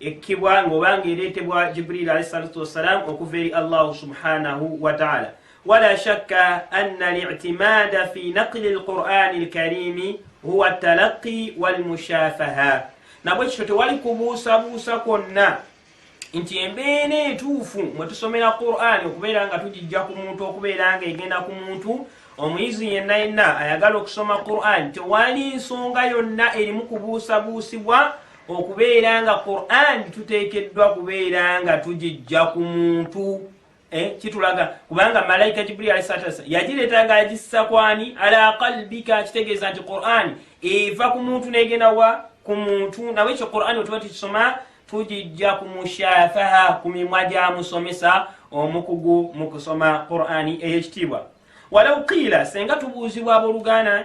ekkibwa ng'oba ng'ereetebwa jibriil alahi salatu wassalam okuva eri allahu subhanahu wataala wala shakka anna liitimaada fi naqli alqur'ani alkarimi huwa talaqi walmushafaha nabwe kityo tewali kubuusabuusa kwonna nti embeera entuufu mwe tusomera qur'ani okubeera nga tugijja ku muntu okubeera nga egenda ku muntu omuyizi yenna yenna ayagala okusoma qur'ani tewali nsonga yonna erimu kubuusabuusibwa okubeera nga qurani tuteekeddwa kubeera nga tugijja ku muntu eh, kitulaga kubanga malaika jibril ali satasa yagireeta nga agissa kwani ala kalbika kitegeeza nti qurani eva ku muntu negenda wa ku muntu nawe ekyo qurani wetuba tukisoma tugijja ku mushafaha ku mimwa gya musomesa omukugu mu kusoma qurani eyekitiibwa walau qiila senga tubuuzibwa abooluganda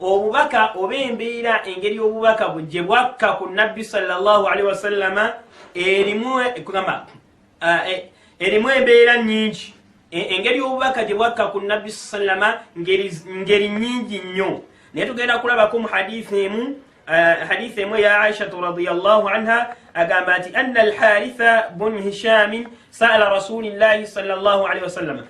obubaka oba embeera engeri obubaka bwe gye bwakka ku nabbi salllahalihi wasallama erimu kugamba eh, eh, erimu embeera nyingi e, engeri obubaka gye bwakka ku nabbi sallama ngeri nyingi nnyo naye tugenda kulabako mu hadithi emu eh, hadithi emu eya aishatu radiallahu anha agamba nti anna alharitha bun hishamin saala rasulillahi salllah alihi wasallama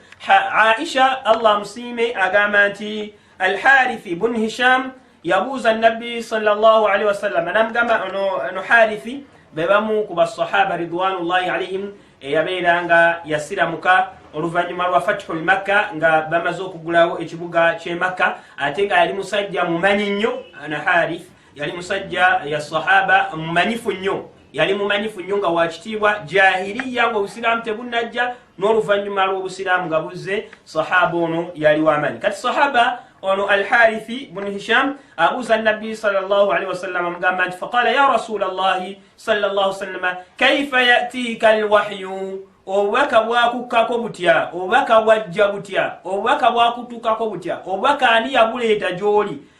aisha allah amusiime agamba nti alharithi bun hisham yabuuza nabbi salli wasallama namugamba no harithi bebamu ku basahaba ridwanullahi alaihim eyabeera nga yasiramuka oluvannyuma lwa fatihu lmakka nga bamaze okugulawo ekibuga kyemakka ate nga yali musajja mumanyi nnyo ana harith yali musajja ya sahaba mumanyifu nnyo yali mumanyifu nnyo nga wakitiibwa jahiriya nga obusiraamu tebunajja n'oluvannyuma lw'obusiraamu nga buzze sahaba ono yali wamanyi kati sahaba ono alharithi bunu hisham abuuza nabbi salllahalihi wasallama mugamba nti faqala ya rasula llahi salllah sallama kaifa yatiika alwahyu obubaka bwakukkako butya obubaka bwajja butya obubaka bwakutukako butya obubaka ani yabuleeta gy'oli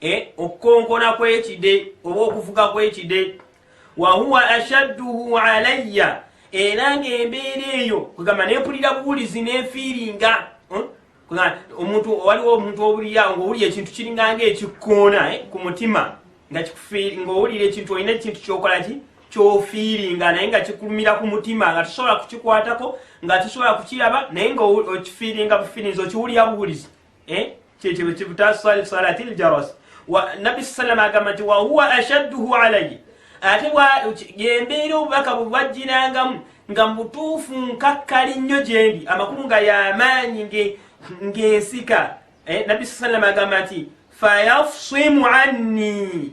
e, okukonkona kwekide oba okufuka kwekide wahuwa ashadduhu alayya era ngaembeera eyo kwegamba nempulira buwulizi nenfiiringa hmm? omuntu waliwo omuntu owulira ngaowuli ekintu kiringanga ekikkoona eh, ku mutima nga ngaowulira ekintu olina ekintu kyokolaki kyofiiringa naye nga kikulumira ku mutima nga tusobola kukikwatako nga tusobola kukiraba naye nga okifiiringa bufiirinzi okiwulira buwulizi eh? kyekyo kibutasalati salati ljarasi nabbi salama agamba nti wahuwa ashadduhu alayi ate yembeera obubaka bwebwajjirangamu nga mubutuufu nkakkali nnyo gyendi amakulu nga yamaanyi ngensika eh, nabbi salama agamba nti fayafsimu anni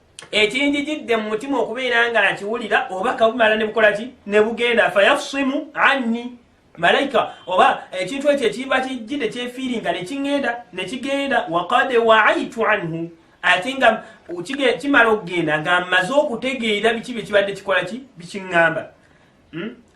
ekinjijidde mu mutima okubeera nga akiwulira oba kabumala ne bukola ki ne bugenda fayafusimu anni malaika oba ekintu ekyo ekiba kijjidde kyefiiringa ne kiŋŋenda ne kigenda wakad waaitu anhu ate nga kimala okugenda nga mmaze okutegeera biki bye kibadde kikola ki bikiŋŋamba hmm?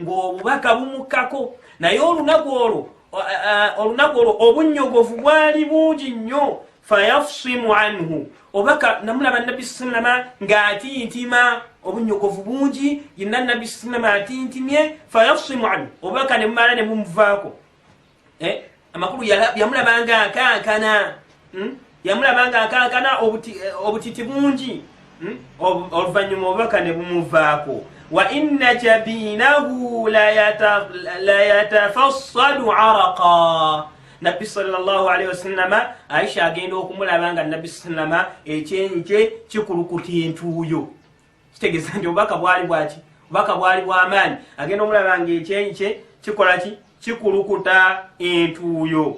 ng'obubaka bumukkako naye olunaku olwo olunaku olwo obunnyogovu bwali bungi nnyo fayafusimu anhu obaka namulaba nabbi sallama ng'atintima obunnyogovu bungi yenna nabbi sallama atintimye fayafusimu anhu obubaka ne bumala ne bumuvaako eh, amakulu yamulabanga akankana hmm? yamulabanga akankana eh, obutiti bungi hmm? oluvannyuma obubaka ne bumuvaako wa inna jabinahu layatafassadu araqa nabbi salllahalihi wasallama aisha agenda okumulaba nga nabbi sallama ekyenyi kye kikulukuta entuuyo kitegeza nti obubaka bwali bwaki obubaka bwali bwamaanyi agenda omulaba nga ekyenyi kye kikola ki kikulukuta entuuyo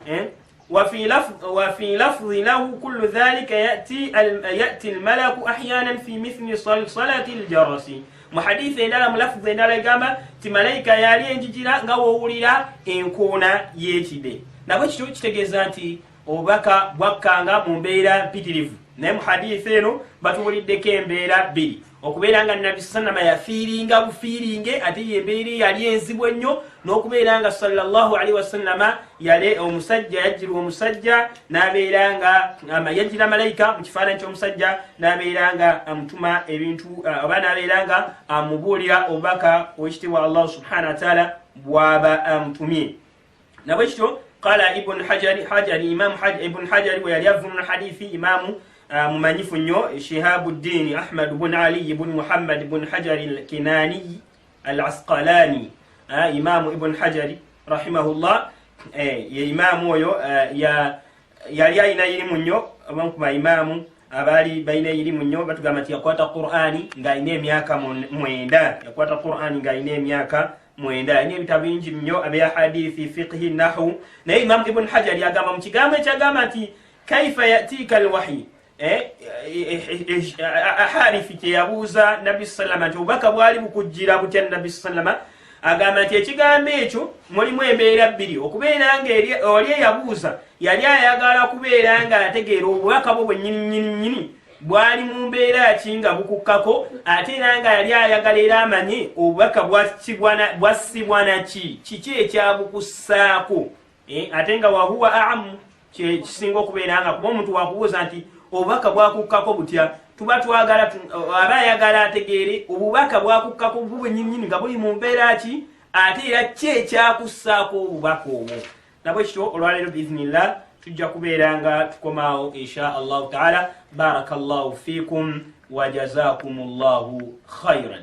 eh? wafi lafzi lahu kullu dhalika yati almalaku ahyanan fi mithli salati ljarasi mu hadisi endala mu lafzi endala egamba ti malaika yali enjijira nga wowulira enkoona yekide nabwe kityo kitegeeza nti obubaka bwakkanga mu mbeera mpitirivu naye mu haditha eno batubuliddeko embeera bbiri okubeera nga nabbi sanama yafiiringa bufiiringe ate yembeera eyali enzibu ennyo n'okubeera nga salllahalihi wasalama yale omusajja yajjirwa omusajja nabeera nga yajjira malayika mu kifaananyi ky'omusajja nabeera nga amutuma ebintu oba nabeera nga amubuulira obubaka owekitiibwa allahu subhana wataala bwaba amutumye nabwe kityo qala ibn hajari hajari imam haj ibn hajari weyali avunula hadithi imamu uh, mumanyifu nnyo shihabuddini ahmad bun aliyi bun muhammad bun hajari lkinaniyi al asqalani uh, imamu ibn hajari rahimahullah eh, ye imamu oyo uh, ya yali alina irimu nnyo abamu ku baimamu abaali balina irimu nnyo batugamba nti yakwata qurani ng'alina emyaka mwenda yakwata qurani ng'alina emyaka mwenda yalina ebitabo bingi nnyo abya hadithi fiqhi nahu naye imamu ibuni hajari agamba mu kigambo ekyagamba nti kaifa yatika alwahyi eh, eh, eh, harifi kyeyabuuza nabi salama nti obubaka bwali bukujjira butya nabi salama agamba nti ekigambo ekyo mulimu embeera bbiri okubeera nga oli eyabuuza yali ayagala kubeera nga ategeera obubaka bwo bwenyininyininyini bwali mu mbeera ki nga bukukkako ate era nga yali ayagala era amanye obubaka bwassibwa naki kiki ekyabukussaako eh, ate nga wahuwa amu kyekisinga okubeera nga kuba omuntu wakubuuza nti obubaka bwakukkako butya tuba twagala aba ayagala ategeere obubaka bwakukkako bubwenyinyini nga buli mu mbeera ki ate era ki ekyakussaako obubaka obwo nabwekityo olwaleero biiznillah tujja kubeera nga tukomaawo insha allahu taala baraka llahu fikum wajazakum llahu khairan